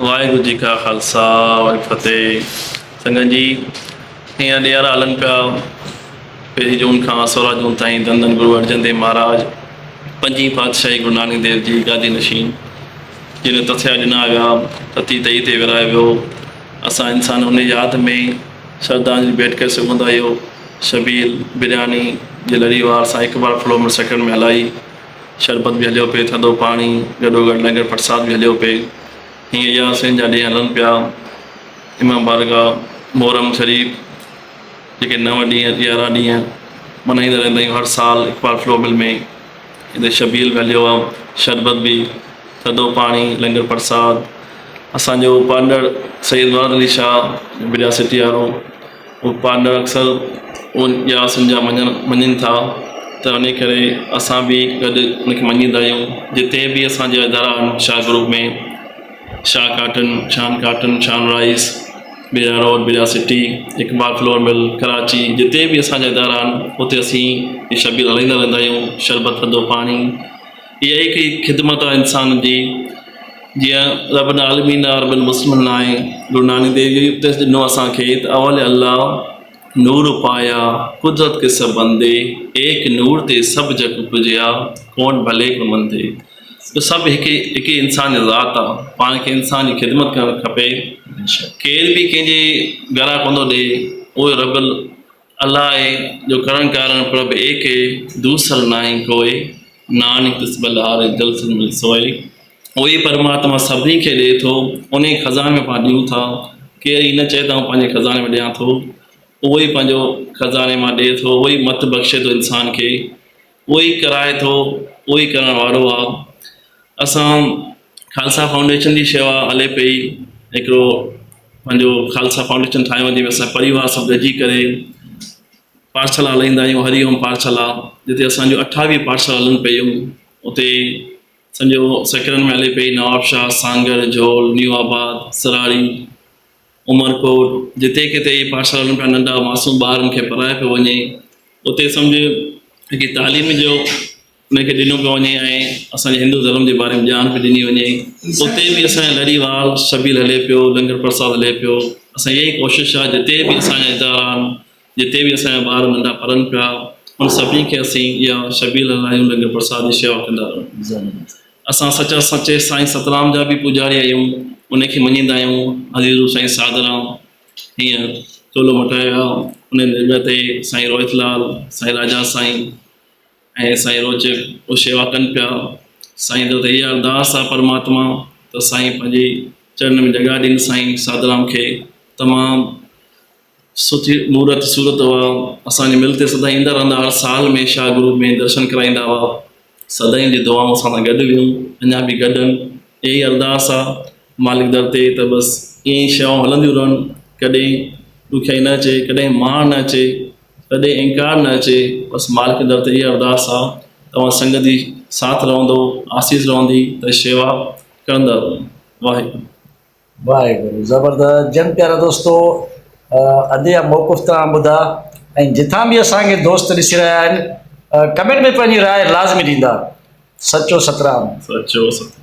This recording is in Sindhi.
واحگرو جي ڪا خالصا وري فتح سنگت جي ايئن ڏيارا هلن پيا پهرين جون کان سورا جون تائين ڌن ڌن گرو ارجن ديو مهاراج پنجين پاتشاهي گرو نانڪ ديو جي گادي نشين جنهن تٿيا ڏنا ويا تتي تئي تي ورايو ويو اسان انسان ان ياد ۾ شردانجلي ڀيٽ ڪري سگهون ٿا اهو شبيل برياني جي لري وار سان هڪ بار فلو منٽ سيڪنڊ ۾ هلائي شربت به هليو پئي، ٿڌو پاڻي، گڏوگڏ لنگر پرساد به هليو پئي. هيئن اياسين جا ڏينهن هلن پيا. امام بارگاهه محرم شريف جيڪي نو ڏينهن، يارهن ڏينهن ملهائيندا رهندا آهيون هر سال اقبال فلو مل ۾ هتي شبيهل به هليو آهي، شربت به، ٿڌو پاڻي، لنگر پرساد. اسان جو پڙهندڙ سيد مراد علي شاهه، بجاسيٽي وارو، هو پارلر اڪثر ان ڄار سنڌ جا مڃڻ مڃين ٿا ته انهي ڪري اسان به گڏ ان کي مڃيندا آهيون جتي به اسان جا ادارا آهن Shah group ۾ Shah cotton Shan cotton Shan rice بيرا روڊ بيرا city Iqbal flour mill Karachi جتي به اسان جا ادارا آهن اتي اسين شبير هلائيندا رهندا آهيون شربت ٿڌو پاڻي اها ئي هڪ خدمت آهي انسان جي، جيئن رب العالمين آء رب المسلمين آء گرو نانڪ ديو جي اپديس ڏنو اسان کي ته اول الله نور پايا، قدرت ڪي سڀ بندي، ايڪ نور تي سڀ جڳ اپجيا، ڪون ڀلي ڪون مندي. جو سڀ هڪ ئي هڪ ئي انسان جي ذات آ، پاڻ کي انسان جي خدمت ڪرڻ کپي، ڪير به ڪنهن جي گرهه ڪونه ٿو ڏئي، اهو رب ال. الائي جو ڪرڻ ڪارڻ پرڀ ايڪي، دوسر ناهي ڪوئي، نانڪ تس ٻلهاري جل سنڌ ۾ سوئي، اهوئي پرماتما سڀني کي ڏئي ٿو، انهيء خزاني ۾ پاڻ ڏيون ٿا، ڪير هي نه چئي ته آئون پنهنجي خزاني ۾ ڏيان ٿو، اهوئي پنهنجو خزاني مان ڏئي ٿو، اهوئي مت بخشي ٿو انسان کي، اهو ئي ڪرائي ٿو، اهو ئي ڪرڻ وارو آ. اسان خالصا فائونڊيشن جي شيوا هلي پئي ۽ هڪڙو پنهنجو خالصا فائونڊيشن ٺاهيو آ جنهن ۾ اسان پريوار سڀ گڏجي ڪري پاٺشالا هلائيندا آهيون هري اوم پاٺشالا جتي اسان جون اٺاويهه پاٺشالا هلن پيون اتي سنجهو سيڪڙن ۾ هلي پئي نوابشاهه، سانگهڙ، جهول، نيو آباد، سراري. عمرڪوٽ، جتي ڪٿي هي پاٺشالن پيا ننڍا معصوم ٻارن کي پرايو پيو وڃي، اتي سمجهه هڪ تعليم جو انهن کي ڏنو پيو وڃي ۽ اسان جي هندو ڌرم جي باري ۾ ڄاڻ پئي ڏني وڃي. اتي به اسان جي لڙي وار شبيل هلي پيو، لنگر پرساد هلي پيو. اسان جي اها ئي ڪوشش آهي جتي به اسان جا ادارا آهن، جتي به اسان جا ٻار ننڍا پڙهن پيا، انهن سڀني کي اسين اها شبيهه لهلائي انهن کي پرساد جي شيوا ڪندا رهون. اسان سچا سچي سائين سترام جا به پوڄاري آهيون، انهي کي مڃيندا آهيون. حضرت روح سائين ساڌرام هينئر چولو مٽائي ويا، انهي جي جڳهه تي سائين روهت لال، سائين راجا سائين ۽ سائين روچ اها شيوا ڪن پيا. سائين در تي اها ارداس آهي پرماتما ته سائين پنهنجي چرن ۾ جڳهه ڏين سائين ساڌرام کي تمام. سٺي مورت صورت هئا. اسان جي مل تي سدائين ايندا رهندا هئا. سال ۾ شاهه گروه ۾ درشن ڪرائيندا هئا. سدائين جي دعائون اسان سان گڏ هيون. اڃا به گڏ هن. اها ئي ارداس آ مالڪ در تي ته بس ائين ئي شيوائون هلنديون رهن. ڪڏهن ڏکيائي نه اچي، ڪڏهن ماڻ نه اچي، ڪڏهن انڪار نه اچي. بس مالڪ در تي اها ارداس آ ته اوهان سنگت جي ساٿ رهندو، آسيس رهندي ته شيوا ڪرندا رهون. واهي گرو. واحغرو زبردست جن پيارا دوستو ادي يا موقف تان ٻڌا ۽ جتان به اسان کي دوست ڏسي رهيا آهن ڪمينٽ ۾ پنهنجي راء لازمي ڏيندا سچو سترام سچو سترام